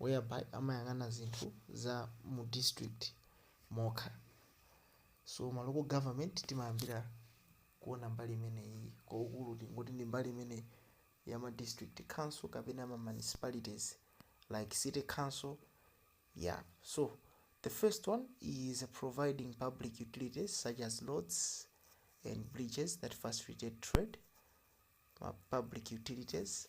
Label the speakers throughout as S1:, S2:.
S1: whereby amayang'ana zinthu za mu district mokha so ma local government timayambira kuona mbali imeneyi kwaukulu tingoti ndi mbali imeneyi ya ma district council kapena ma municipalities like city council yeah so the first one is providing public utilities such as roads and bridges that facilitate trade ma public utilities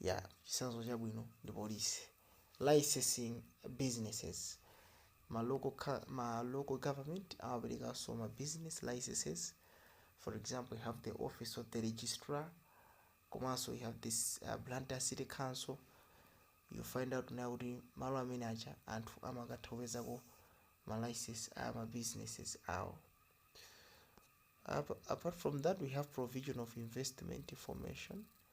S1: ya chitsanzo chabwino ndi police licensing businesses ma local ca- ma local government amaperekaso ma business licenses for example you have the office of the registrar komanso you have this uh, blantyre city council you find out nayo kuti malo amene aja anthu amakatha kupezako ma license a ma businesses awo Ap- apart from that we have provision of investment information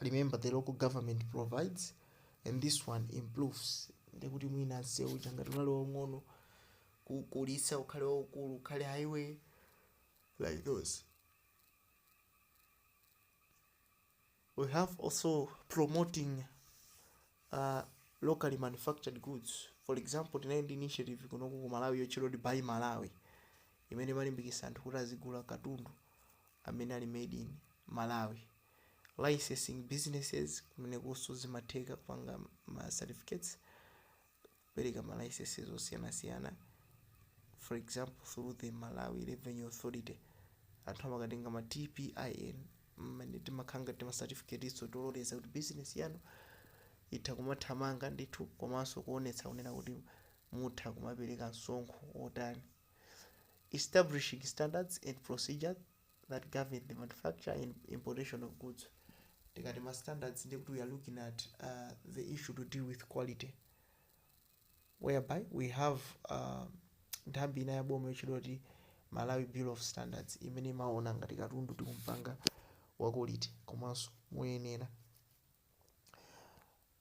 S1: remember the local government provides and this one improves ndekuti mwina nsewu uja ngati unali waung'ono kuukulitsa ukhale waukulu ukhale highway like those we have also promoting uh, locally manufactured goods for example tinali ndi initiative kunoku ku malawi yotchedwa kuti buy malawi imene imalimbikitsa anthu kuti azigula katundu amene ali made in Malawi. Licensing businesses, kumenekunso zimatheka kupanga ma certificates, kupereka ma licenses osiyanasiyana, for example through the Malawi Revenue Authority. Anthu amakatenga ma TPIN, amene timakhala ngati tima certificatenso tololeza kuti business yanu itha kumathamanga ndithu komanso kuonetsa kunena kuti mutha kumapereka msonkho wotani. establishing standards and procedures that govern the manufacture and importation of goods tikati ma standards ndikuti we are looking at uh, the issue to deal with quality whereby we have uh, nthambi ina ya boma yotchedwa kuti malawi bureau of standards imene imaona ngati katundu tikumpanga wa quality komanso moyenera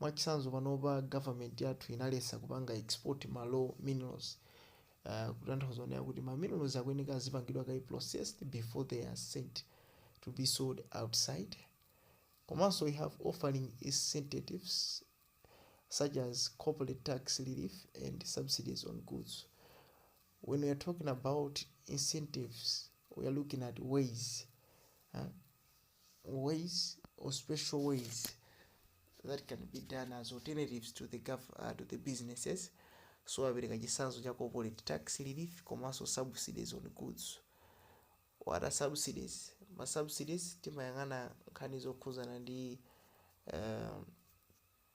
S1: Mwachitsanzo panopa government yathu inalesa kupanga export ma low minerals kutanthauza kunena kuti ma minerals akuyeneka azipangidwa kaye processed before they are sent to be sold outside komanso we have offering incentives such as corporate tax relief and subsidies on goods. When we are talking about incentives we are looking at ways. ways or special ways that can be done as alternatives to the, gov uh, to the businesses so apereka chisanzo cha corporate tax relief komanso subsidies on goods what are subsidies ma subsidies timayang'ana nkhani zokhuzana ndi um,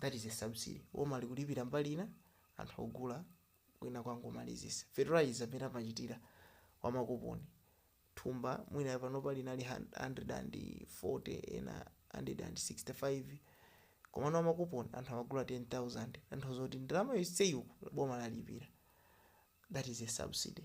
S1: that is a subsidy boma likulipira mbali ina anthu ogula kwinako angomalizitsa fertilizer mmene amachitira wamakuponi thumba mwina panopa linali 140 ena 165 komano wamakuponi anthu amagula 10000 kutanthauza kuti ndalama yonseyi boma lalipira that is a subsidy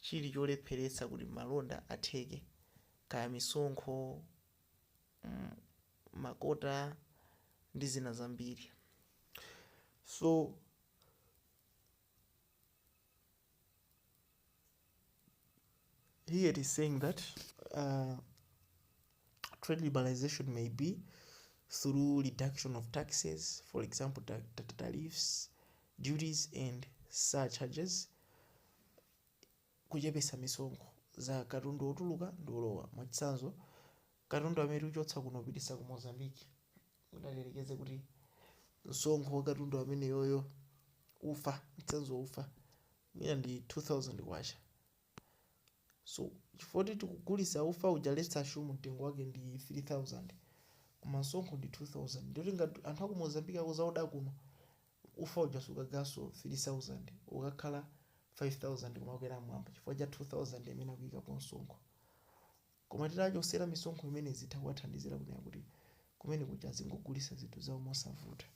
S1: chili cholepheretsa kuti malonda atheke, kaya misonkho, makota ndi zina zambiri. So, here it is saying that uh, Trade liberalization may be through reduction of taxes, for example, tariffs, duties and surcharges, kuchepesa misonkho za katundu otuluka ndi olowa. Mwachitsanzo, katundu amene tikuchotsa kuno kupititsa ku Mozambique, mwina tiyerekeze kuti msonkho wa katundu ameneyoyo, ufa, mwachitsanzo ufa, mwina ndi 2000 kwacha, so chifukwa kuti tikugulitsa ufa uja let's assume mtengo wake ndi 3000 koma msonkho ndi 2000 ndikuti ngati anthu aku Mozambique akudzaoda kuno ufa uja sukhalanso 3000 ukakhala 5000 kumakwera mwamba chifukwa cha 2000 imene akuikapo msonkho Koma titawachotsera misonkho imeneyi zitha kuwathandizira kunena kuti kumene kuja azingogulitsa zinthu zawo mosavuta.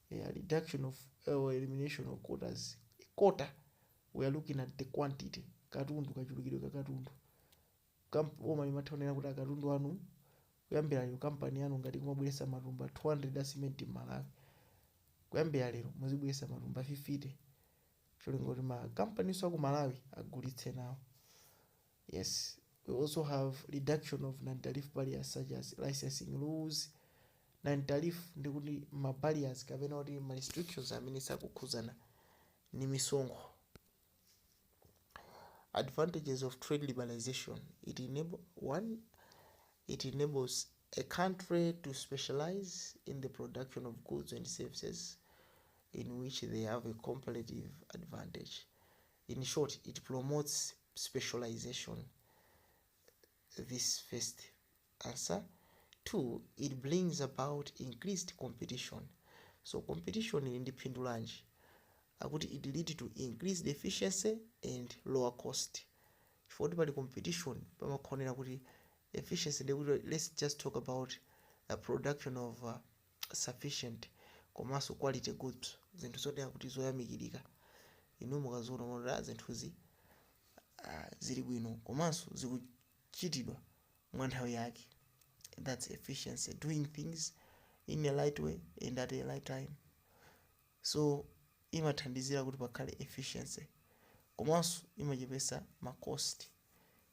S1: Eya reduction of or elimination of quotas, quota we are looking at the quantity katundu kachulukidwe ka katundu. Kamp boma limatha kunena kuti katundu wanu kuyambira lero kampani yanu ngati ikumabweretsa matumba 200 a simenti m'Malawi, kuyambira lero muzibweretsa matumba 50 cholinga kuti ma kampaninso a ku Malawi agulitse nawo. Yes. We also have reduction of non-tariff barriers such as licensing rules, non-tariff ndi kuti ma barriers kapena kuti ma restrictions amene sakukhudzana ndi misonkho. Advantages of trade liberalization. It enable one, it enables a country to specialize in the production of goods and services in which they have a comparative advantage. In short, it promotes specialization This first answer. Two, it brings about increased competition. So competition ili ndi phindu lanji? Akuti it lead to increased efficiency and lower cost. Chifukwa kuti pali competition pamakhonera kuti efficiency ndi kuti let's just talk about the production of uh, sufficient komanso quality goods zinthu zooneka kuti zoyamikirika inu mukaziona muona kuti ah, zinthuzi ah, zili bwino komanso zikuchitidwa mwa nthawi yake that's efficiency doing things in a right way and at a right time so imathandizira kuti pakhale efficiency komanso imachepesa ma cost